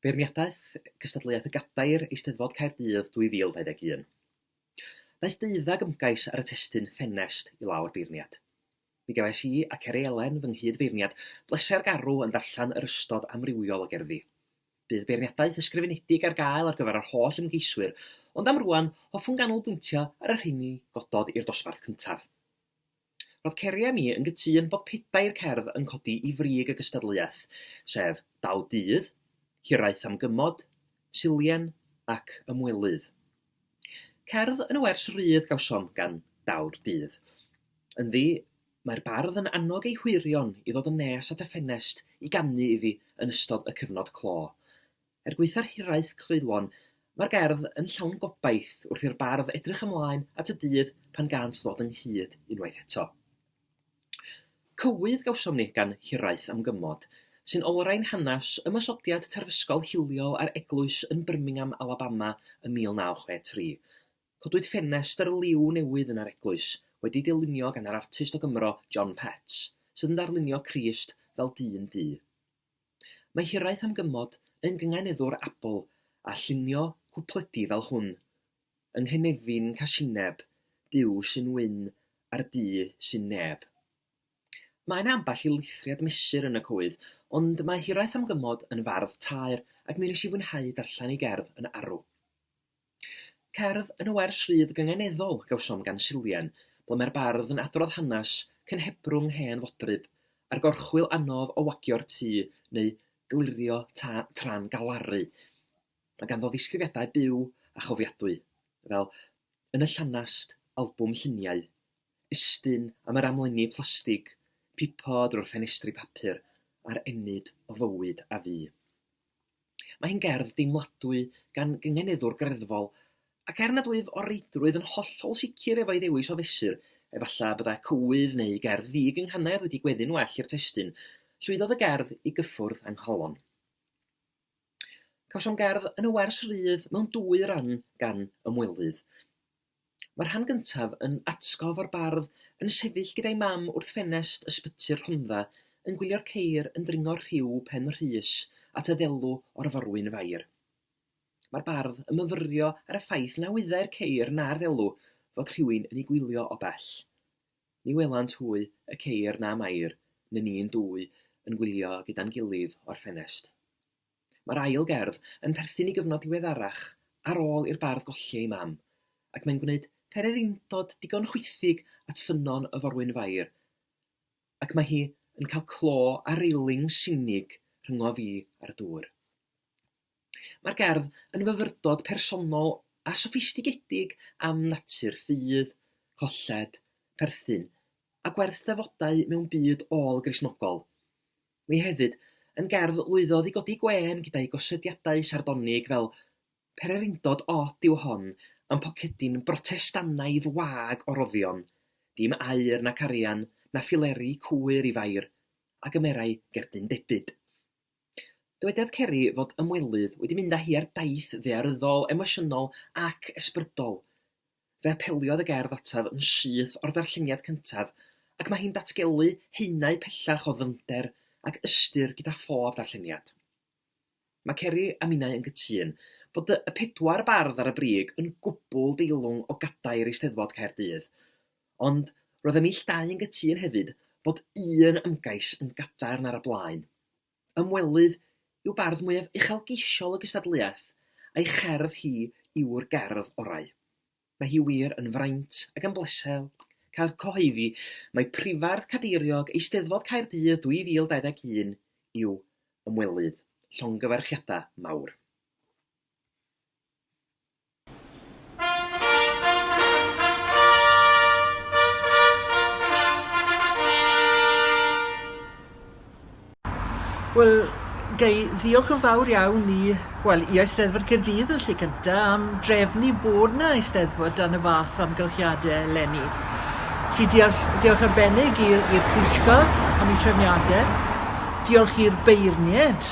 Beirniadaeth gystadleuaeth y Gadair, Eisteddfod Caerdydd 2021. Daeth deuddag ymgais ar y testun Ffenest i lawr beirniad. Mi gefais i a Ceri Elen, fy nghyd-feirniad, bleser garw yn darllen yr ystod amrywiol o gerddi. Bydd beirniadaeth ysgrifenedig ar gael ar gyfer yr holl ymgeiswyr, ond am rŵan, hoffwn ganolbwyntio ar y rheini gododd i'r dosbarth cyntaf. Roedd Ceri a mi yn gytûn bod pedair cerdd yn codi i frig y gystadleuaeth, sef Daw Dydd, Hiraeth am Gymod, Silien ac Ymwelydd. Cerdd yn y wers rydd gawsom gan Daw'r Dydd. Ynddi, Mae'r bardd yn annog ei hwyrion i ddod yn nes at y ffenest i ganu iddi yn ystod y cyfnod clo. Er gwaetha'r hiraeth creulon, mae'r gerdd yn llawn gobaith wrth i'r bardd edrych ymlaen at y dydd pan gânt ddod ynghyd unwaith eto. Cywydd gawsom ni gan Hiraeth am Gymod, sy'n olrhain hanes ymosodiad terfysgol hiliol ar eglwys yn Birmingham, Alabama, ym 1963. Codwyd ffenestr liw newydd yn yr eglwys, wedi'i dylunio gan yr artist o Gymro, John Petts, sydd yn darlunio Crist fel dyn du. Mae hiraeth am gymod yn gynganeddwr abl â llunio cwpledi fel hwn, Yng nghynefin casineb, Duw sy'n wyn ar du sy'n neb. Mae yna ambell i lithriad mesur yn y coed, ond mae hiraeth am gymod yn fardd taer ac mi wnes i fwynhau darllen ei gerdd yn arw. Cerdd yn y wers rhydd gynganeddol gawsom gan Silvian, ble mae'r bardd yn adrodd hanes cynhebrwng hen fodryb, a'r gorchwyl anodd o wagio'r tŷ neu glirio tân tra'n galaru. Mae ganddo ddisgrifiadau byw a chofiadwy, fel yn y llanast, albwm lluniau, estyn am yr amlenni plastig, pipo drwy'r ffenestri papur, a'r ennyd o fywyd a fu. Mae hi'n gerdd deimladwy gan gyngeneddwr greddfol, ac er nad wyf o reidrwydd yn hollol sicr efo'i ddewis o fesur, efallai y byddai cywydd neu gerdd ddi-gynghanedd wedi gweddu'n well i'r testun, llwyddodd y gerdd i gyffwrdd â nghalon. Cawsom gerdd yn y wers rydd mewn dwy ran gan Ymwelydd. Mae'r rhan gyntaf yn atgof o'r bardd yn sefyll gyda'i mam wrth ffenest ysbyty'r Rhondda yn gwylio'r ceir yn dringo rhiw Pen Rhys at y ddelw o'r forwyn fair. Mae'r bardd yn myfyrio ar y ffaith na wyddai'r ceir na'r ddelw fod rhywun yn eu gwylio o bell. Ni welant hwy y ceir na Mair na ni'n dwy yn gwylio gyda'n gilydd o'r ffenest. Mae'r ail gerdd yn perthyn i gyfnod diweddarach ar ôl i'r bardd golli ei mam, ac mae'n gwneud pererindod digon chwithig at ffynnon y forwyn fair, ac mae hi yn cael clo ar reiling sinig rhyngof fi a'r dŵr. Mae'r gerdd yn fyfyrdod personol a soffistigedig am natur ffydd, colled, perthyn, a gwerth defodau mewn byd ôl-Gristnogol. Mae hefyd yn gerdd lwyddodd i godi gwên gyda'i gosodiadau sardonig fel 'Pererindod od yw hon a'n pocedi'n Brotestanaidd wag o roddion, dim aur nac arian na phileri cwyr i fair, a gymerai gerdyn debyd'. Dywedodd Ceri fod Ymwelydd wedi mynd â hi ar daith ddaearyddol, emosiynol ac ysbrydol. Fe apeliodd y gerdd ataf yn syth o'r ddarlleniad cyntaf ac mae hi'n datgelu haenau pellach o ddyfnder ac ystyr gyda phob darlleniad. Mae Ceri a minnau yn cytun bod y pedwar bardd ar y brig yn gwbl deilwng o gadair Eisteddfod Caerdydd, ond roedd y neilltuau yn gytun hefyd bod un ymgais yn gadarn ar y blaen. Ymwelydd yw bardd mwyaf uchelgeisiol y gystadleuaeth, a'i cherdd hi yw'r gerdd orau. Mae hi wir yn fraint ac yn bleser cael cyhoeddi mai Prifardd Cadeiriog Eisteddfod Caerdydd 2021 yw Ymwelydd, llongyfarchiadau mawr. Wel, ga i ddiolch yn fawr iawn i, wel, i Eisteddfod Caerdydd yn lle cyntaf am drefnu bod yna Eisteddfod dan y fath amgylchiadau eleni. Felly diolch, diolch arbennig i'r Pwyllgor am ei trefniadau. Diolch i'r beirniaid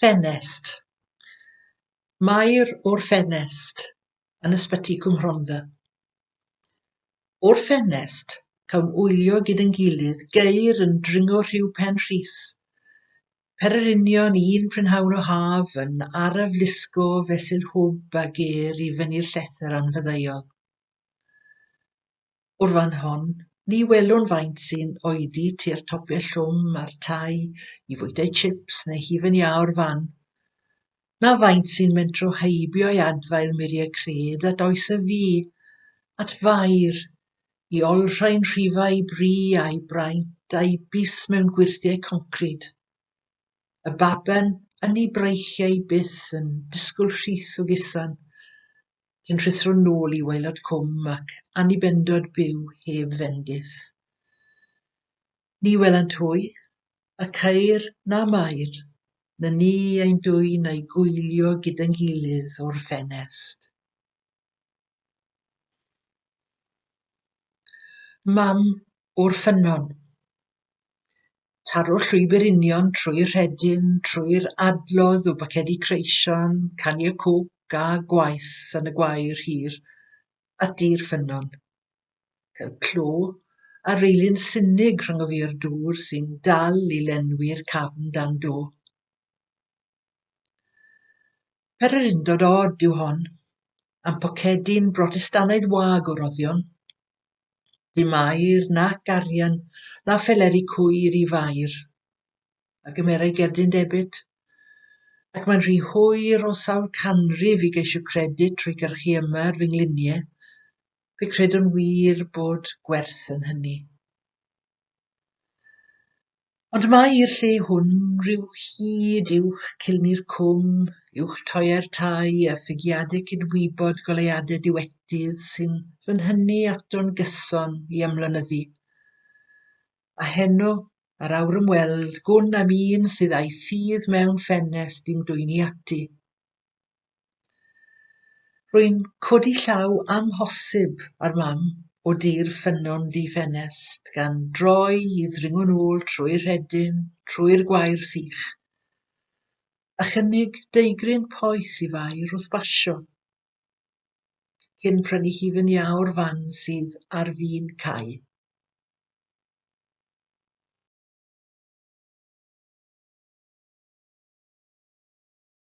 Ffenest. Mair o'r ffenest yn Ysbyty Cwm Rhondda. O'r ffenest, cawn wylio gyd yn gilydd geir yn dringo rhyw pen rhys. Per yr union un prynhawn o haf yn araf lusgo fesul hwb a ger i fyny'r llethr anfyddeuol. O'r fan hon, ni welwn faint sy'n oedi tua'r topiau llwm a'r tai i fwytau chips neu hufen iâ o'r fan. na faint sy'n mentro heibio i adfail muriau cred at oes y fu, at faer, i olrhain rhifau i bri a'i braint a'i bys mewn gwyrthiau concrid. Y baben yn ei breichiau byth yn disgwyl rhith o gusan, cyn rhuthro nôl i waelod cwm ac annibendod byw heb fendith. Ni welent hwy, y ceir na mair, na ni ein dwyn a'i gwylio gyda'n gilydd o'r ffenest. Mam o'r ffynnon. Taro'r llwybr union trwy'r rhedyn, trwy'r adlodd o bacedi creision, caniau coc a gwaith yn y gwair hir, ati'r ffynnon. Cael clo ar reilyn sinig rhwng y fur dŵr sy'n dal i lenwi'r cafn dan do. Pererindod od yw hon, am pocedi'n Brotestanaidd wag o roddion. Dim air nac arian na pheleri cwyr i fair, a gymerai gerdyn debit, ac mae'n rhy hwyr o sawl canrif i geisio credyd trwy gyrchu yma ar fy ngliniau, Fe credwn wir bod gwerth yn hynny. Ond mae i'r lle hwn rhyw hyd uwch cilni'r cwm, uwch toiau'r tai a ffigiadau cydwybod goleuadau diwetydd sy'n fy nhynnu ato'n gyson i ymlonyddu. A heno, ar awr ymweld, gwn am un sydd a'i ffydd mewn ffenest i'm dwyni ati. Rwy'n codi llaw amhosib ar Mam o dir ffynnon du ffenest, gan droi i ddringo'n ôl trwy'r rhedyn, trwy'r gwair sych, a chynnig deugryn poeth i Fair wrth basio, cyn prynu hi fy niao'r fan sydd ar fin cau.